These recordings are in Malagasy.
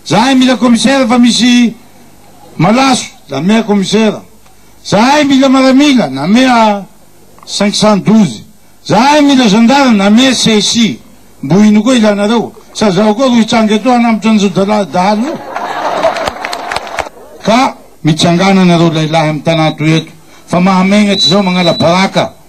Zahay mila commissaire fa misy malaso namea commissaire, zahay mila maramila namea cinq cent douze, zahay mila gendarme namea csi, mbo ino koa ilanareo? Sa zaho koa ro hitranga eto hanambotra an'izao dala dahalo io? Ka mitsangana nareo lahilahy am tanà toy eto fa mahamegnatry zao magnala baraka.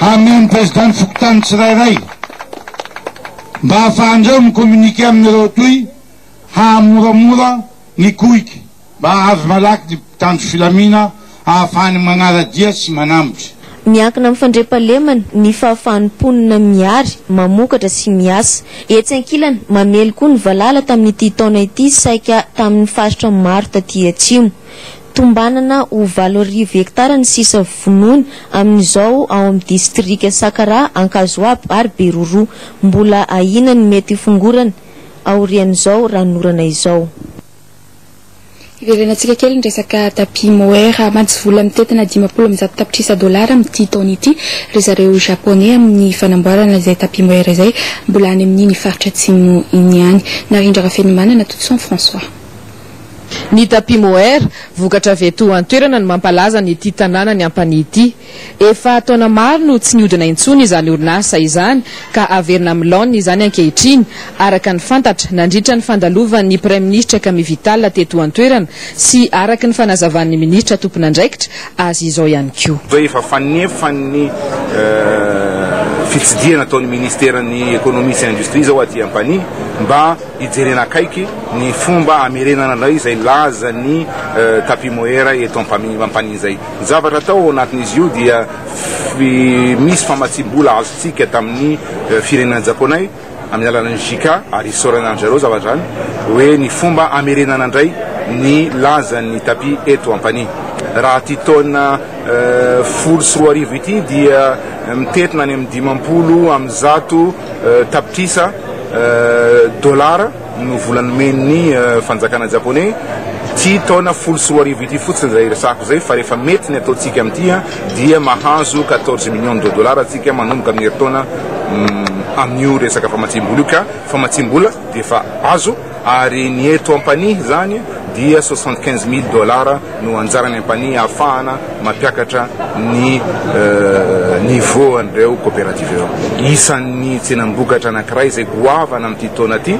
Hameo ny Président ny fokontany tsirairay mba hahafahan'ireo mi-communiquer amin'ireo toi hahamoramora ny koika mba hahavy malaky ny mpitandro filamina hahafahany manara-dia sy manambotry. Miankina amin'ny fandriampahalemana ny fahafahan'ny mponina miary, mamokatra sy miasa. Etsy ankilany, mamely koa ny valala tamin'ity taona ity saika tamin'ny faritra maro taty atsimo. Tombanana ho valo arivo hektara ny sisa vonoina amin'izao ao amin'ny distrika Sakaraha, Ankazoabo ary Beroroha. Mbola ahiana ny mety hifongorana aorian'izao ranonorana izao. Hiverenantsika kely ny resaka tapis mohair. Mantsy vola mitentina dimampolo amby zato tapitrisa dolara amin'ity taona ity ry zareo Japoney amin'ny fanamboarana izay tapis mohair izay, mbola any amin'iny faritra atsimo iny ihany. Narindra Rafenomanana, Totoson François. Ny tapis mohair, vokatra avy eto an-toerana no mampalaza an'ity tanànan'i Ampanihy ity. Efa taona maro no tsy nihodina intsony izany orinasa izany ka haverina amin'ny laoniny izany ankehitriny, araka ny fantatra, nandritra ny fandalovan'ny Praiminisitra Camille Vital teto an-toerana sy araka ny fanazavan'ny Minisitra tompon'andraikitra azy izao ihany koa. Efa fanefan'ny fitsidihana ataon'ny Minisiteran'ny Ekonomia sy Indostria izao aty Ampanihy mba. Hijerena akaiky ny fomba hamerenana indray izay lazan'ny tapis mohair eto Ampampania izay. Ny zavatra atao ao anatin'izy io dia misy famatsiam-bola azontsika tamin'ny firenena Japoney amin'ny alalan'ny JICA ary isaorana an-dry zareo zavatra izany hoe ny fomba hamerenana indray ny lazan'ny tapis eto Ampania. Raha ity taona folo sy roa arivo ity dia mitentina any amin'ny dimampolo amin'ny zato. Tapitrisa dolara no vola nomen'ny fanjakana japoney ity taona folo sy roa arivo ity fotsiny izay resahako izay fa rehefa mety ny ataontsika amin'ity dia mahazo quatorze millions de dollars tsika manomboka amin'ny herintaona amin'io resaka famatsiam-bola io ka famatsiam-bola dia efa azo Ary ny eto Ampanihy izany dia soixante quinze mille dollars no anjaran'ny Ampanihy ahafahana mampiakatra ny niveau an'ireo coopératives ireo. Isan'ny tsenam-bokatra anankiray izay goavana amin'ity taona ity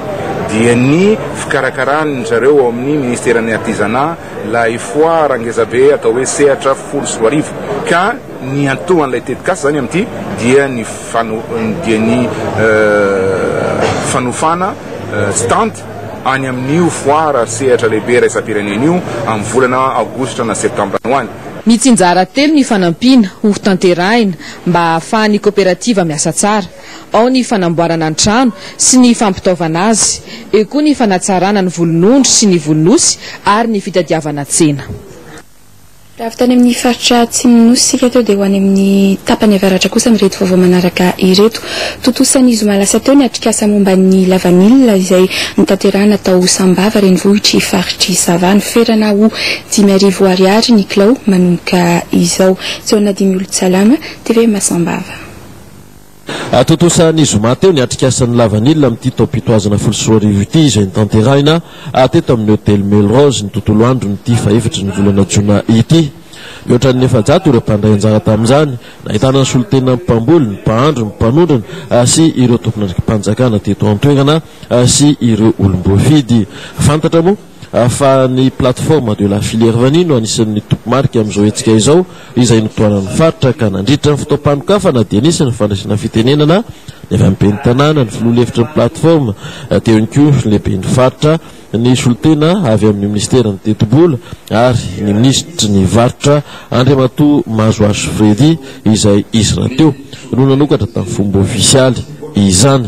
dia ny fikarakaran'ny zareo ao amin'ny Ministeran'ny Artisanat ilay foara ngezabe atao hoe Sehatra folo sy roa arivo ka Niantohan'ilay tetikasa izany amin'ity dia ny dia ny fanofana stand any amin'io foire ary sehatra lehibe iraisam-pirenena io amin'ny volana aogositra na septambra ho any. Mitsinjara telo ny fanampiana hotanterahina mba hahafahan'ny koperativa miasa tsara. Ao ny fanamboarana ny trano sy ny fampitaovana azy. Eo koa ny fanatsarana ny volonondry sy ny volon'osy ary ny fitadiavana tsena. Raha avy tany amin'ny faritra Atsimon'ny Nosy isika teo dia ho any amin'ny tapany avaratra kosa amin'ireto vaovao manaraka ireto. Tontosan'ny zoma lasa teo ny atrikasa momba ny lavanila izay notanterahina tao Sambava renivohitr'i faritr'i Sava. Noferana ho dimy arivo ariary ny kilao manomboka izao. Jaona Dimiolotsalama, tvm Sambava. Tontosa ny zoma teo ny atrikasan'ny lavanila amin'ity taom-pitohazana folo sy roa arivo ity izay notanterahina teto amin'ny hotely Melrose ny tontolo andron'ity fahefatra ny volana jona ity. Mihoatra ny efajato ireo mpandray anjara tamin'izany. Nahitana ny solontena mpamboly, ny mpahandro, ny mpanondrana sy ireo tompon'andraiki-panjakana teto an-toerana sy ireo olom-boafidy. Fantatra moa. fa ny Plateforme de la Filière Vanille no anisan'ny toby marika amin'izao hetsika izao, izay notohanan'ny faritra ka nandritra ny fotoam-panokafana dia nisy ny fandraisana fitenenana ny avy amin'ny Ben'ny Tanàna, ny Filoha lefitry ny Plateforme, teo ihany koa ny Lehiben'ny faritra, ny solontena avy amin'ny Minisiteran'ny Tetibola ary ny Minisitry ny Varotra Andriamatoa Mazoazo Freddy izay izy rahateo no nanokatra tamin'ny fomba ofisialy izany.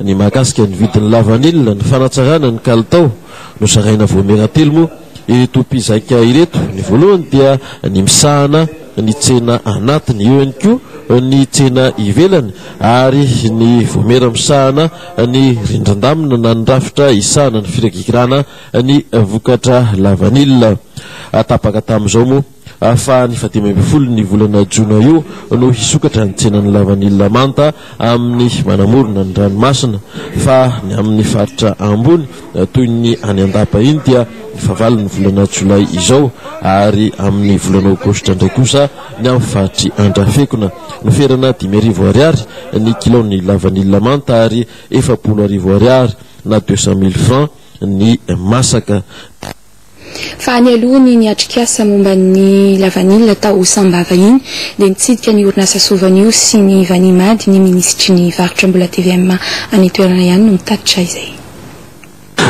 Ny mahakasika ny vidin'ny lavanila, ny fanatsarana ny kalitao no zaraina voamera telo moa ireto mpizaika ireto. Ny voalohany dia ny misahana ny tsena anatiny, eo ihany koa ny tsena ivelany ary ny voamera misahana ny rindrin-damina na ny rafitra isahana ny firagigirana ny vokatra lavanila. Tapaka tamin'izao moa Fa ny fahadimy ambin'ny folon'ny volana jona io no hisokatra ny tsenan'ny lavanila manta amin'ny manamorona ny ranomasina. Fa ny amin'ny faritra ambony toy ny any Andapa iny dia ny fahavalon'ny volana jolay izao ary amin'ny volana aogositra indray kosa ny amin'ny faritr'i Andrafekona no ferana dimy arivo ariary ny kilaon'ny lavanila manta ary efapolo arivo ariary na deux cent mille francs ny masaka. Fa any aloha ny niatrikasa momba ny lavanila tao Sambava iny dia nitsidika ny orinasa Sovanio sy ny Vanimady ny minisitry ny varotra mbola tvm any an-toerana ihany no mitatitra izay.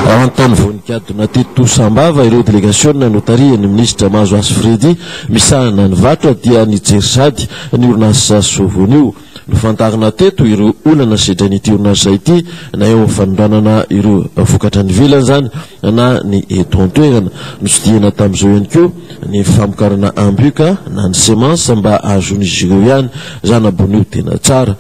Ao an-tany voan-gadona teto Sambava ireo delegasiona notarihan'ny minisitra Mahazoasy Freddy misahana ny varotra dia nijery sahady ny orinasa Sovanio. Nofantarina teto ireo olana sedrain'ity orinasa ity na eo amin'ny fanondranana ireo vokatra any ivelany izany na ny eto an-toerana. Notsidihina tamin'izao ihany koa ny famokarana ambioka na ny semences mba hahazoan'izy ireo ihany zana-boanio tena tsara.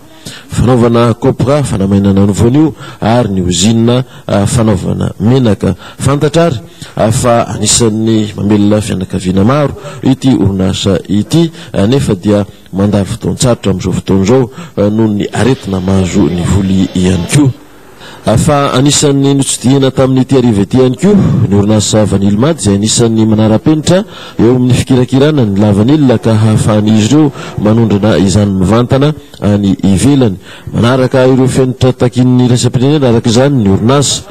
Fanaovana copra, fanamainana ny voanio ary ny ozinina fanaovana menaka. Fantatra ary fa anisan'ny mamelona fianakaviana maro ity orinasa ity nefa dia Mandalo fotoan-tsarotra amin'izao fotoana izao noho ny aretina mahazo ny voly ihany koa. Fa anisan'ny notsidihina tamin'ity hariva ity ihany koa ny orinasa Vanilmad izay anisan'ny manara-penitra eo amin'ny fikirakirana ny lavanila ka hahafahan'izy ireo manondrana izany mivantana any ivelany. Manaraka ireo fenitra takian'ny iraisam-pirenena araka izany ny orinasa.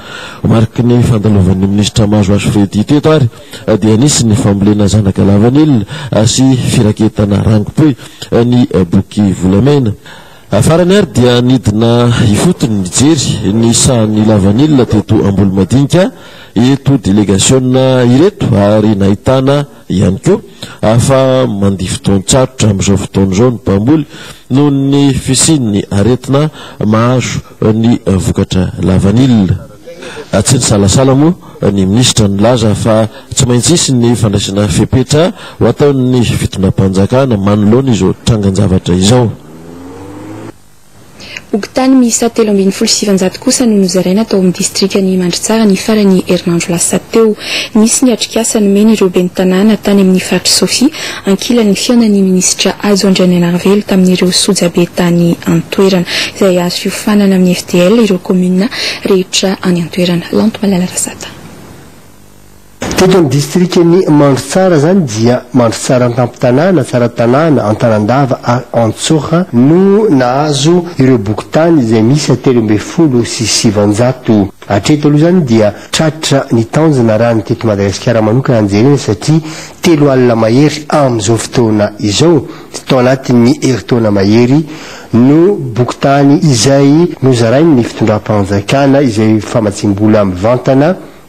Mariky ny fandalovan'ny minisitra Mahazoazo Freddy teto ary dia nisy ny fambolena zanaka lavanila sy firaketana rangope ny boky volamena. Farany ary dia nidina ifotony nijery ny sahan'ny lavanila teto Ambolomadinika eto delegasiona ireto ary nahitana ihany koa fa mandia fotoan-tsarotra amin'izao fotoana izao ny mpamboly noho ny fisian'ny aretina mahazo ny vokatra lavanila. Tsy nisalasala moa ny minisitra nilaza fa tsy maintsy hisy ny fandraisana fepetra ho ataon'ny fitondram-panjakana manoloana izao trangan-javatra izao. Fokontany miisa telo ambin'ny folo sy sivinjato kosa no nozaraina tao amin'ny distrikan'i Mandritsara ny faran'ny herinandro lasa teo. Nisy ny atrikasa nomeny ireo ben'ny tanàna tany amin'ny faritr'i Sofia Ankilan'ny fihaonan'ny minisitra Hajo Andrianaianarivelo tamin'ireo sojabe tany an-toerana, izay azo hiofanana amin'ny FDL ireo kaominina rehetra any an-toerana. Lanto Malala Razata. Teto amin'ny distrikan'i Mandrotsara izany dia Mandrotsara an-tampon-tanàna, Tsaratanàna, Antanandava ary Antsoha no nahazo ireo bokin-tany izay miisa telo ambin'ny folo sy sivanjato. Hatreto aloha izany dia tratra ny tanjona raha ny teto Madagasikara manokana no jerena satria telo alina mahery amin'izao fotoana izao, tao anatin'ny herintaona mahery, no bokin-tany izay nozarain'ny fitondram-panjakana izay famatsiam-bola mivantana